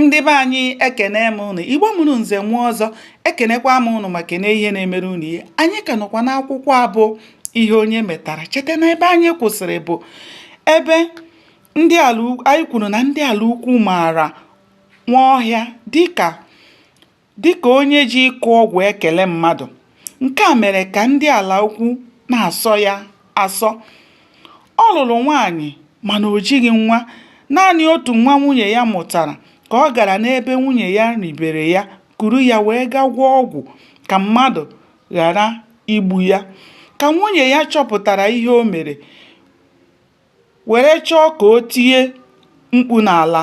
ndị be anyị ekene m ụnụ igbo mụrụ nze nwa ọzọ ekenekwa m ụnụ ma kene ihe na-emere ụnụ ihe anyị ka nọkwa n'akwụkwọ a bụ ihe onye metara cheta na ebe anyị kwụsịrị bụ ebe anyị kwuru na ndị ala ukwu maara nwaọhịa dịka Dịka onye ji ịkụ ọgwụ ekele mmadụ, nke a mere ka ndị ala ukwu na-asọ ya asọ. Ọ lụrụ nwaanyị mana o jighị nwa, naanị otu nwa nwunye ya mụtara ka ọ gara n'ebe nwunye ya ribere ya kuru ya wee gaa gwọọ ọgwụ ka mmadụ ghara igbu ya. Ka nwunye ya chọpụtara ihe o mere, were chọọ ka o tinye mkpu n'ala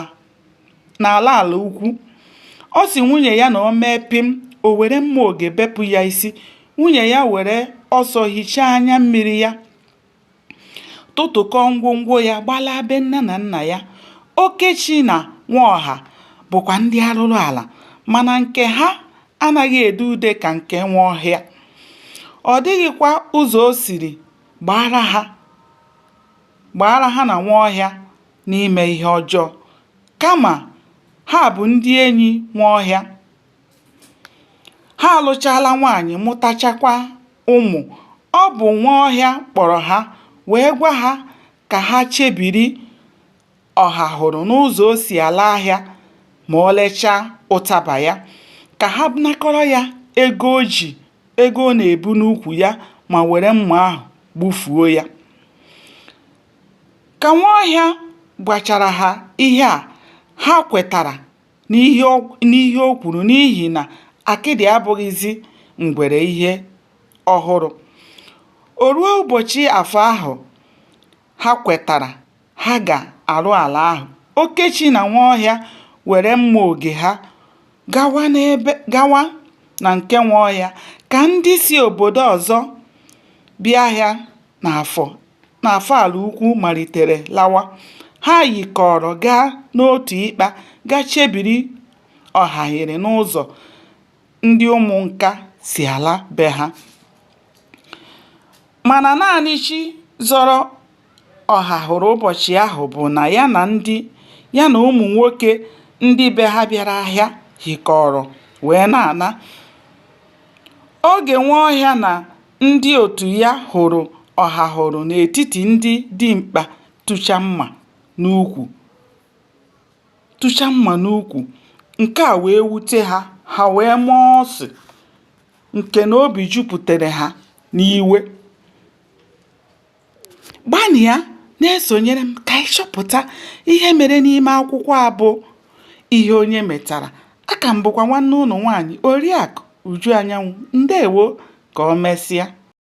ala ukwu ọ sị nwunye ya na o mee pịm o were mma oge bepụ ya isi nwunye ya were ọsọ hichaa anya mmiri ya tụtụkọọ ngwongwo ya gbalaa be nne na nna ya okechi na nwaọha bụkwa ndị arụrụ ala mana nke ha anaghị ede ude ka nke nwaọhịa ọ dịghịkwa ụzọ o siri Gbaara ha gbaara ha na Nwaọhịa n'ime ihe ọjọọ, kama ha bụ ndị enyi Nwaọhịa. Ha alụchaala nwaanyị mụtachakwa ụmụ. Ọ bụ Nwaọhịa kpọrọ ha wee gwa ha ka ha chebiri ọhahụrụ n'ụzọ o si ala ahịa ma o lechaa ụtaba ya ka ha nakọrọ ya ego o ji ego ọ na-ebu n'ukwu ya ma were mma ahụ gbufuo ya ka nwaọhịa gwachara ha ihe a ha kwetara n'ihe o kwuru n'ihi na akịdị abụghịzi ngwere ihe ọhụrụ o ruo ụbọchị afọ ahụ ha kwetara ha ga-arụ ala ahụ okechi na nwaọhịa were mma oge ha gawa na nke nwaọhịa ka ndị si obodo ọzọ bịa ahịa n'afọ n'afọ ala ukwu malitere lawa ha yikọrọ gaa n'otu ịkpa gaa chebiri ọhahụrụ n'ụzọ ndị ụmụnka si ala be ha Mana naanị chi zọrọ Ọhahụrụ ụbọchị ahụ bụ na ya na ụmụ nwoke ndị be ha bịara ahịa hikọrọ wee na-ana. Oge Nwaọhịa na ndị otu ya hụrụ Ọhahụrụ n'etiti ndị dimkpa tụcha mma n'ukwu, nke a wee wute ha, ha wee maa ọsụ. nke na obi jupụtara ha n'iwe gbanịa na-esonyere m ka anyị chọpụta ihe mere n'ime akwụkwọ a bụ ihe onye metara aka m bụkwa nwanne unu nwaanyị oriakụ uju anyanwụ ndewo ka o mesịa